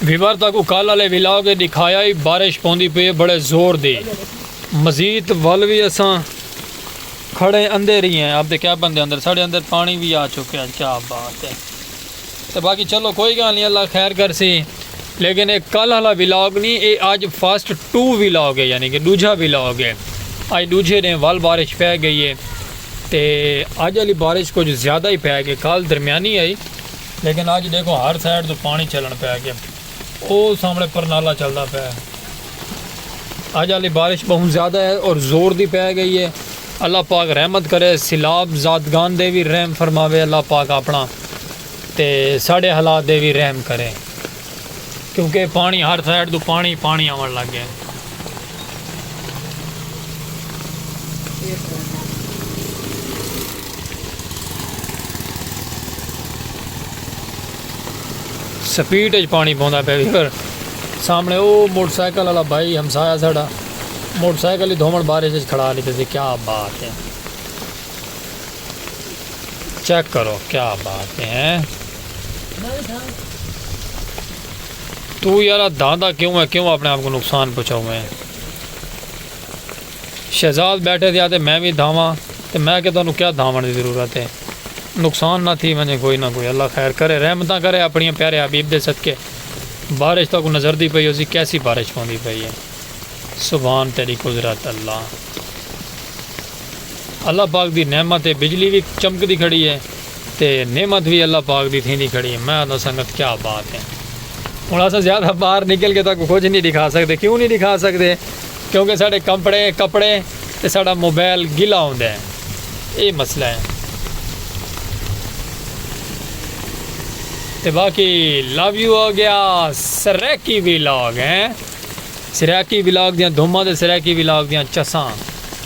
Viewer تک اکل والے ولاگ اے ڈکھایا ہی بارش پوندی پی بڑے زور دی مزید ول وی اساں کھڑے اندر ہی ہیں اب تے کیا بندے اندر ساڑے اندر پانی بھی آ چکے ہیں کیا بات ہے تے باقی چلو کوئی گل نہیں اللہ خیر کر سی لیکن اے کل والا ولاگ نہیں اے اج فرسٹ ٹو ولاگ ہے یعنی کہ دوجھا ولاگ ہے اج دوجھے دن ول بارش پہ گئی ہے تے اج آلی بارش کجھ زیادہ ہی پے گئے کل درمیانی ہئی لیکن اج ڈیکھو ہر سائیڈ توں پانی چلن پے گئے او سامنے پرنالا چلدا پے اج آلی بارش بہوں زیادہ ہے اور زور دی پے گئی ہے اللہ پاک رحمت کرے سیلاب زادگان دے وی رحم فرماوے اللہ پاک اپنا تے ساڈے حالات دے وی رحم کرے۔ کیونکہ پانڑی ہر سائیڈ توں پانڑی ہی پانڑی آونڑ لگ گئے۔ سپیڈ اچ پانڑی پوندا پئے ویور۔ سامنے او موٹر سائیکل والا بھائی ہمسایہ ساڈا موٹر سائیکل ہی دھونڑ بارش اچ کھڑا لیتے سی کیا بات ہے۔ چیک کرو کیا بات ہے تو یار داندا کیوں ہے کیوں اپنے آپ کو نقصان پہنچاؤ میں شہزاد بیٹھے دیا تے میں بھی دھاواں تے میں کہ تانوں کیا دھاون دی ضرورت ہے نقصان نہ تھی ونجے کوئی نہ کوئی اللہ خیر کرے رحمتاں کرے اپنی پیارے حبیب دے صدقے بارش تک نظر دی پئی ہوسی کیسی بارش ہوندی پئی ہے سبحان تیری قدرت اللہ اللہ پاک دی نعمت ہے بجلی وی چمکدی کھڑی ہے تے نعمت وی اللہ پاک دی تھیندی کھڑی ہے میں آہندا سنگت کیا بات ہے ہن اساں زیادہ باہر نکل کے تہاکوں کجھ نہیں ڈکھا سکدے کیوں نہیں ڈکھا سکدے کیونکہ ساڈے کپڑے کپڑے تے ساڈا موبائل گلا ہوندا ہے ایہ مسئلہ ہے تے باقی لو یو ہو گیا سریکی ویلاگ ہیں سریکی ویلاگ دیاں دھوماں تے سریکی ویلاگ دیاں چساں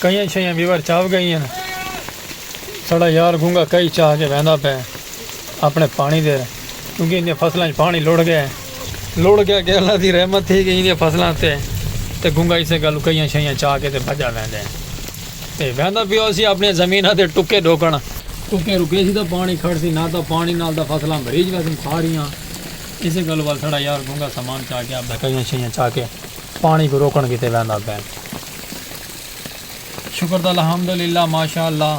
کئیاں چھئیاں بیور چاو گئیاں ساڑا یار گونگا کئی چاہ کے ویندا پے اپنے پانی دے کیونکہ ان دی فصلاں وچ پانی لوڑ گئے لوڑ گئے کہ اللہ دی رحمت تھی کہ ان دی فصلاں تے تے گونگا اسے گل کئیاں چھئیاں چاہ کے تے بھجا ویندے تے ویندا پیو سی اپنی زمیناں تے ٹکے ڈھوکن۔ ٹکے رکے سی تاں پانی کھڑ سی نہ تاں پانی نال تاں فصلاں بھریج ویسن ساریاں۔ اسے گل ول ساڑا یار گونگا سامان چا کے آپدا کئیاں شئیاں چا کے پانی کوں روکن کیتے ویندا پئے۔ شکر دا الحمد للہ ماشاء اللہ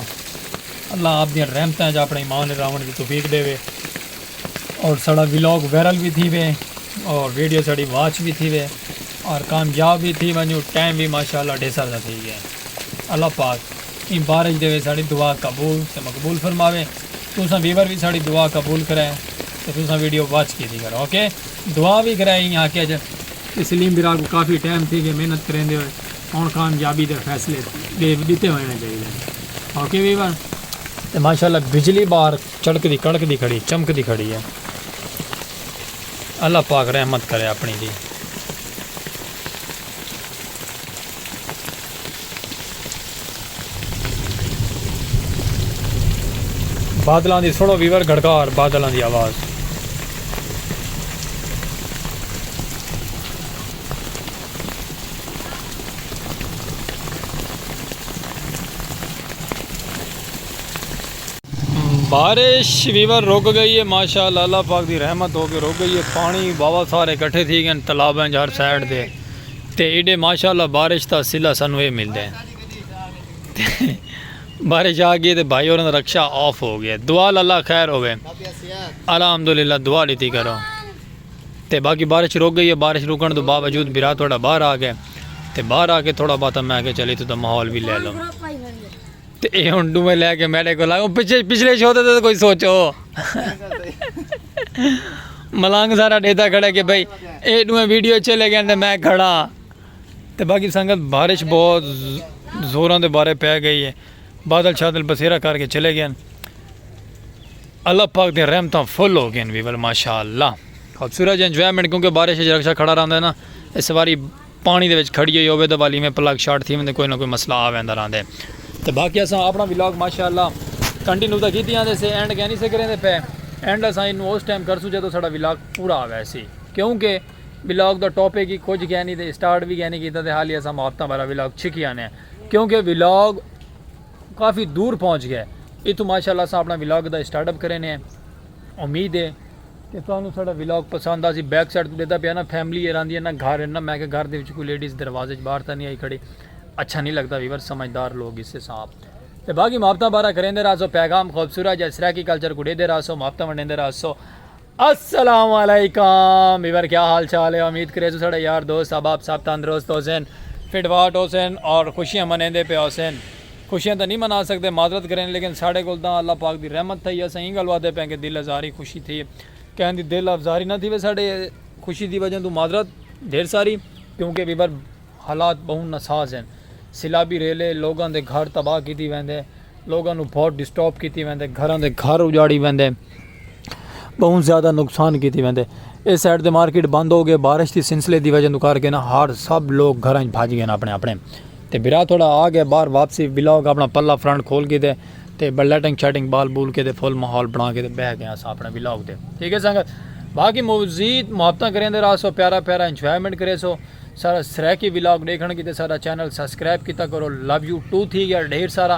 اللہ آپ دیاں رحمتاں اچ اپنڑے ایمان اچ راونڑ دی توفیق ڈیوے۔ اور ساڑا ولاگ ویرل بھی تھی وے اور ویڈیو ساڑی واچ بھی تھی وے اور کامیاب بھی تھی ونجو ٹائم بھی ماشاءاللہ ڈھیسر دا تھی گیا اللہ پاک ان بارج دے وے ساڑی دعا قبول تے مقبول فرماوے تساں ویور بھی ساڑی دعا قبول کرے تے تساں ویڈیو واچ کی تھی کرو اوکے دعا بھی کرے ہی آکے جا کہ سلیم برا کو کافی ٹائم تھی گیا محنت کریں دے ہوئے ہون کامیابی دے فیصلے دے دیتے ہوئے ہیں چاہیے اوکے ویور تے ماشاءاللہ بجلی بار چڑکدی کڑکدی کھڑی چمکدی کھڑی ہے اللہ پاک رحمت کرے اپنی دی۔ بادلاں دی سنو ویور گھڑکار بادلاں دی آواز۔ بارش ویور رک گئی ہے ماشاءاللہ اللہ پاک دی رحمت ہو کے رک گئی ہے پانی بابا سارے کٹھے تھی گئے تالاب ہیں ہر سائیڈ دے تے ایڈے ماشاءاللہ بارش دا سلا سانو اے مل دے بارش آ گئی تے بھائی اور رکشہ آف ہو گیا دعا اللہ خیر ہوے الحمدللہ دعا لیتی کرو تے باقی بارش رک گئی ہے بارش رکن تو باوجود برا تھوڑا باہر آ گئے تے باہر آ کے تھوڑا باتا میں کہ چلی تو دا ماحول بھی لے لو تے ایہ ہن ڈوہیں لے کے میڈے کول آئے۔ پچھے پچھلے شو تے تاں کوئی سوچو۔ ملنگ سارا ڈیتا کھڑا کہ بھائی ایہ ڈوہیں ویڈیو اچھے لگے ہیں تے میں کھڑا ہاں۔ تے باقی سنگت بارش بہت زوراں دے بارے پے گئی ہے۔ بادل شادل بسیرا کر کے چلے گئے ہیں۔ اللہ پاک دے رحمتاں فل ہو گئے ہیں ویول ماشاءاللہ۔ خوبصورت انجوائمنٹ کیونکہ بارش اچ رکشہ کھڑا رہندا ہے نا۔ اس واری۔ پاݨی دے وچ کھڑی ہوئی ہووے تاں ول ایویں پلگ شارٹ تھی ویندے کوئی نہ کوئی مسئلہ آ ویندا رہندے تے باقی اساں اپݨا ولاگ ماشاءاللہ کنٹینیو تاں کیتی آندے سے اینڈ کینی سے کریندے پئے اینڈ اساں اینوں اس ٹائم کرسوں جدوں ساڈا ولاگ پورا آ ویسی کیونکہ ولاگ دا ٹاپک ہی کجھ کینی تے اسٹارٹ وی کینی کیتا تے حالی اساں ماپتاں والا ولاگ چھکی آنے آں کیونکہ ولاگ کافی دور پہنچ گئے اتھوں ماشاءاللہ اساں اپݨا ولاگ دا اسٹارٹ اپ کرینے امید ہے تے تہانوں ساڈا ولاگ پسند آسی بیک سائیڈ توں ڈیدا پیا نا فیملی اے راندی اے نا گھر اے نا میں کہ گھر دے وچ کوئی لیڈیز دروازے وچ باہر تاں نہیں آئی کھڑی اچھا نہیں لگدا ویور سمجھدار لوگ گسے ساں آپ تے باقی محبتاں بارہ کریندے رہسو پیغام خوبصورت جا سرائیکی کلچر کو ڈیدے رہسو محبتاں ونڈیندے رہسو السلام علیکم ویور کیا حال چال ہے امید کریسو ساڈا یار دوست احباب صاحب تندرست ہوسن فٹ واٹ ہوسن اور خوشیاں منیندے پے ہوسن خوشیاں تاں نی منا سگدے معذرت گھرین لیکن ساڈے کول تاں اللہ پاک دی رحمت تھئی اساں ایں گل وادے پئیں کہ دل ازاری خوشی تھئی کہیں دی دل افزاری نہ تھیوے ساڈے خوشی دی وجہ توں معذرت ڈھیر ساری کیونکہ ویور حالات بہوں ناساز ہن سیلابی ریلے لوگاں دے گھر تباہ کیتی ویندے لوگاں نوں بہت ڈسٹرب کیتی ویندے گھراں دے گھر اجاڑی ویندے۔ بہوں زیادہ نقصان کیتے ویندے۔ اے سائیڈ تے مارکیٹ بند ہو گئے۔ بارش دی سلسلے دی وجہ توں کر کے نہ ہر سب لوگ گھراں وچ بھج گئے نہ اپنے اپنے۔ تے بھرا تھوڑا آ گئے باہر واپسی بلاگ اپنا پلہ فرنٹ کھول کے دے۔ تے بل لٹنگ شٹنگ بال بول کے دے فل ماحول بنا کے دے بیٹھ گئے اساں اپنے بلاگ تے۔ ٹھیک ہے سنگت۔ باقی مزید محبت کریں دے راسو پیارا پیارا انجوائمنٹ کریں سو۔ سارا سرائیکی بلاگ دیکھن کیتے سارا چینل سبسکرائب کیتا کرو۔ لویو ٹو تھی گیا ڈھیر سارا۔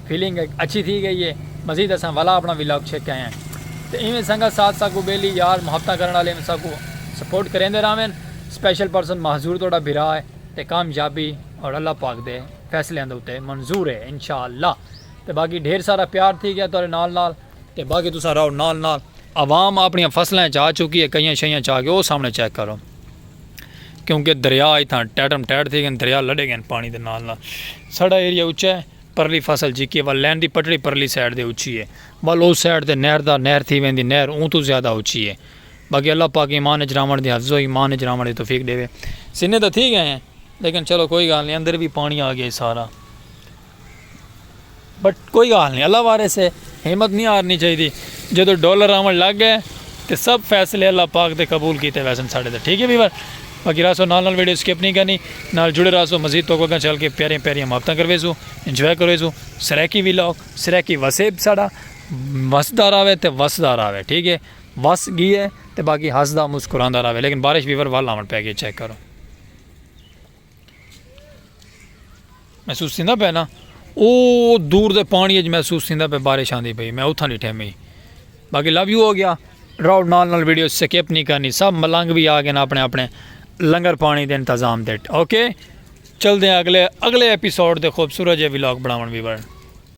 فیلنگ ہک اچھی تھی گئی ہے مزید اساں ولا اپنا ولاگ چھک آئے ہیں تے ایویں سنگت ساتھ ساکوں بیلی یار محبتاں کرن والے ایویں ساکوں سپورٹ کریندے راوین سپیشل پرسن مہزور تہاڈا بھرا ہے تے کامیابی اور اللہ پاک دے فیصلیاں دے اتے منظور ہے انشاءاللہ تے باقی ڈھیر سارا پیار تھی گیا تہاڈے نال نال تے باقی تساں رہو نال نال۔ عوام اپنیاں فصلاں اچ آ چکی ہے کئیاں شئیاں چا کے او سامنے چیک کرو کیونکہ دریا اتھاں ٹیٹم ٹیٹ تھی گئن دریا لڈے گئن پانی دے نال نال ساڈا ایریا اچا ہے۔ پرلی فصل جیکے ول لین دی پٹڑی پرلی سائیڈ دے اچھی اے ول او سائیڈ تے نہر دا نہر تھی ویندی نہر اوں توں زیادہ اچھی اے باقی اللہ پاک ایمان اچ راونڑ دی حفظ و ایمان اچ راونڑ دی توفیق ڈیوے سینے تاں تھی گئے ہیں لیکن چلو کوئی گال نہیں اندر وی پانی آ گیا سارا بٹ کوئی گال نہیں اللہ وارے سے ہمت نہیں ہارنی چاہی دی جدو ڈالر آون لگ گئے تے سب فیصلے اللہ پاک دے قبول کیتے ویسن ساڈے تے ٹھیک ہے ویور باقی رہسو نال نال ویڈیو سکپ نی کرنی نال جڑے رہسو مزید توکوں اگاں چل کے پیاریاں پیاریاں محبتاں کرویسوں انجوائے کرویسوں سرائیکی ویلاگ سرائیکی وسیب ساڈا وسدا راوے تے وسدا راوے ٹھیک ہے وس گیے تے باقی ہسدا مسکراندا راوے لیکن بارش ویور ول آون پے گی چیک کرو۔ محسوس تھیندا پئے نا او دور دے پانی اچ محسوس تھیندا پئے بارش آندی پئی میں اتھاں ڈٹھے میں باقی لو یو ہو گیا ڈراؤٹ نال نال ویڈیو سکپ نہیں کرنی سب ملنگ بھی آ گئے نا اپنے اپنے لنگر پانی دے انتظام دے اوکے چل دیں اگلے اگلے ایپیسوڈ دے خوبصورت جے ولاگ بناون بھی بڑھ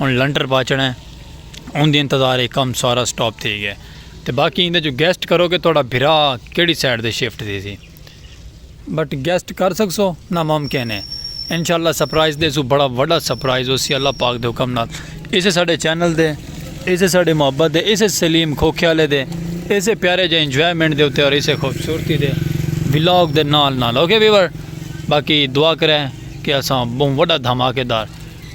ہن لنٹر پاچنڑا ہے اون دے انتظار اے کم سارا سٹاپ تھی گیا تے باقی ایندے جو گیسٹ کرو کہ تہاڈا بھرا کیڑی سائیڈ تے شفٹ تھی سی بٹ گیسٹ کر سکسو نا ممکن ہے انشاءاللہ سرپرائز دے سو بڑا وڈا سرپرائز ہوسی اللہ پاک دے حکم نال اسے ساڈے چینل دے اسے ساڈے محبت دے اسے سلیم کھوکھیالے دے اسے پیارے جے انجوائمنٹ دے اوتے اور اسے خوبصورتی دے ولاگ دے نال نال اوکے ویور باقی دعا کرے کہ اساں بہوں وڈا دھماکے دار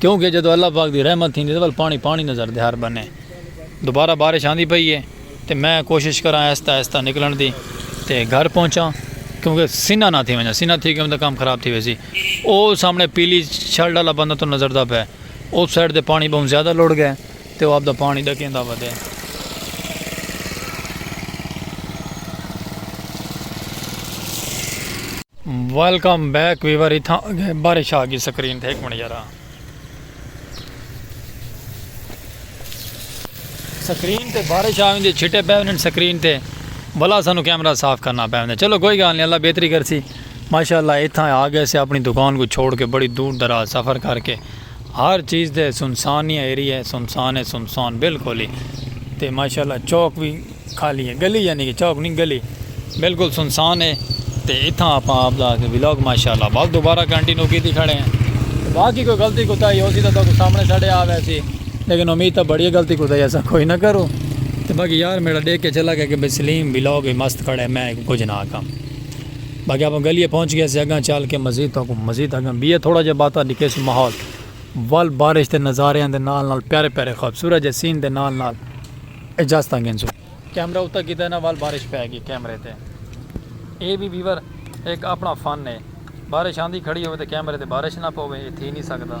کیوں کہ جدوں اللہ پاک دی رحمت تھیندی تاں ول پاݨی پاݨی نظر دے ہر بنھے دوبارہ بارش آندی پئی ہے تے میں کوشش کراں آہستہ آہستہ نکلݨ دی تے گھر پہنچاں کیوں کہ سنہ نہ تھی ونڄاں سنہ تھی ڳیم تاں کم خراب تھی ویسی او سامݨے پیلی شرٹ آلا بندہ تاں نظر دا پئے او سائیڈ تے پاݨی ٻہوں زیادہ لڑ ڳئے تے او آپدا پاݨی ݙکیندا ودے۔ ویلکم بیک ویور اتھاں اگے بارش آ گی سکرین تے ہک منٹ یارا سکرین تے بارش آ ویندی چھٹے پے ونجن سکرین تے بلا سانو کیمرہ صاف کرنا پے ویندے چلو کوئی گال نہیں اللہ بہتری کرسی ماشاءاللہ اتھاں آ گئے سے اپنی دکان کو چھوڑ کے بڑی دور دراز سفر کر کے ہر چیز تے سنسان ای ایریا ہے سنسان ہے سنسان بالکل ہی تے ماشاءاللہ چوک وی خالی ہے گلی یعنی کہ چوک نہیں گلی بالکل سنسان ہے تے اتھاں اپاں آپ دا ولاگ ماشاءاللہ بس دوبارہ کنٹینیو کیتی کھڑے ہیں باقی کوئی غلطی کوتا ہی ہو سی تو سامنے ساڑے آ وے سی لیکن امید تا بڑی غلطی کوتا ہی ایسا کوئی نہ کرو تے باقی یار میرا دیکھ کے چلا گیا کہ بھئی سلیم ولاگ مست کھڑے میں کچھ نہ آکھاں باقی آپاں گلیے پہنچ گئے سے اگاں چل کے مزید تو کو مزید اگاں بیے تھوڑا جے باتا ڈکھے سے ماحول ول بارش دے نظارے اندے نال نال پیارے پیارے خوبصورت جے سین دے نال نال اجازت اگن سو کیمرہ اتا کی تینا ول بارش پہ گی کیمرے تے اے بھی بیور ایک اپنا فن ہے بارش آندھی کھڑی ہوئے تے کیمرے تے بارش نہ پوے اے تھی نہیں سکتا۔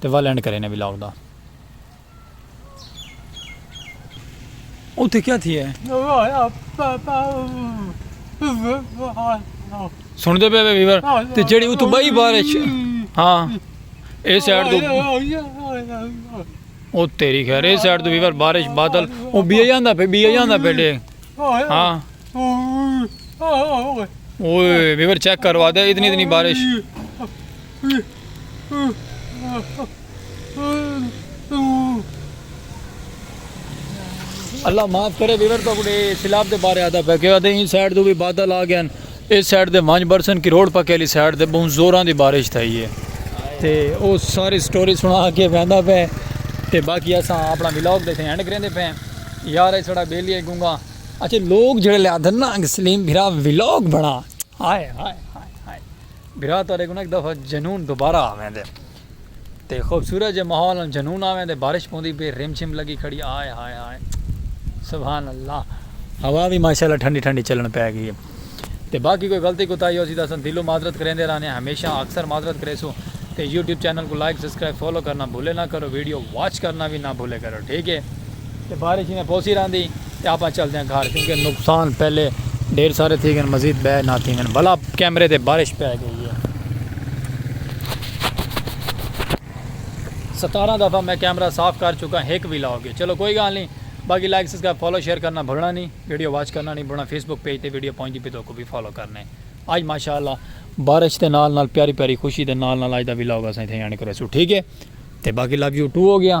تے ول اینڈ کرینے وی لاؤ دا۔ اتھے کیا تھیا ہے؟ سن دے پے ویور تے جیڑی اتھو بائی بار اچ ہاں اے سائیڈ دو او تیری خیر اے سائیڈ دو ویور بارش بادل او بیا جاندا پے بیا جاندا پے ڈے ہاں اوئے ویور چیک کروا دے اتنی اتنی بارش اللہ معاف کرے ویور تو کڑے سیلاب دے بارے آدا پہ کہ آدے ہی سائیڈ دو بھی بادل آ گئے ہیں اس سائیڈ دے مانج برسن کی روڈ پکے لی سائیڈ دے بہن زوران دی بارش تھا ہی ہے تے او ساری سٹوری سنا آکے بیندہ پہ تے باقی ایسا اپنا ویلوگ دے تھے ہینڈ کریں دے پہ یار ایسا سڑا بیلی ہے گونگا اچھے لوگ جڑے لے آدھن نا انگ سلیم بھرا ویلوگ بڑا آئے آئے بھرا تہاڈے کوں نہ ہک دفعہ جنون دوبارہ آویندے تے خوبصورت جے ماحول نال جنون آویندے بارش پوندی پئی رم جھم لگی کھڑی ہائے ہائے ہائے سبحان اللہ ہوا وی ماشاءاللہ ٹھنڈی ٹھنڈی چلن پے گئی ہے تے باقی کوئی غلطی کوتاہی ہوسی تاں اساں دلوں معذرت کریندے رہنے ہمیشہ اکثر معذرت کریسوں تے یوٹیوب چینل کوں لائک سبسکرائب فالو کرنا بھولے نہ کرو ویڈیو واچ کرنا وی نہ بھولے کرو ٹھیک ہے تے بارش ایویں پوسی رہندی۔ تے آپاں چلدیاں گھر کیونکہ نقصان پہلے ڈھیر سارے تھی گن مزید بئے نہ تھی گن بھلا کیمرے تے بارش پے گئی ہے ستارہ دفعہ میں کیمرہ صاف کر چکا ہک وی لاؤ گے چلو کوئی گال نہیں باقی لائک سبسکرائب فالو شیئر کرنا بھولنا نہیں ویڈیو واچ کرنا نہیں بھولنا فیس بک پیج تے ویڈیو پہنچ دی پی تو کو بھی فالو کرنے آج ماشاءاللہ بارش تے نال نال پیاری پیاری خوشی تے نال نال آج دا وی لاؤ گا سائیں تھے یعنی کرے سو ٹھیک ہے تے باقی لو یو ٹو ہو گیا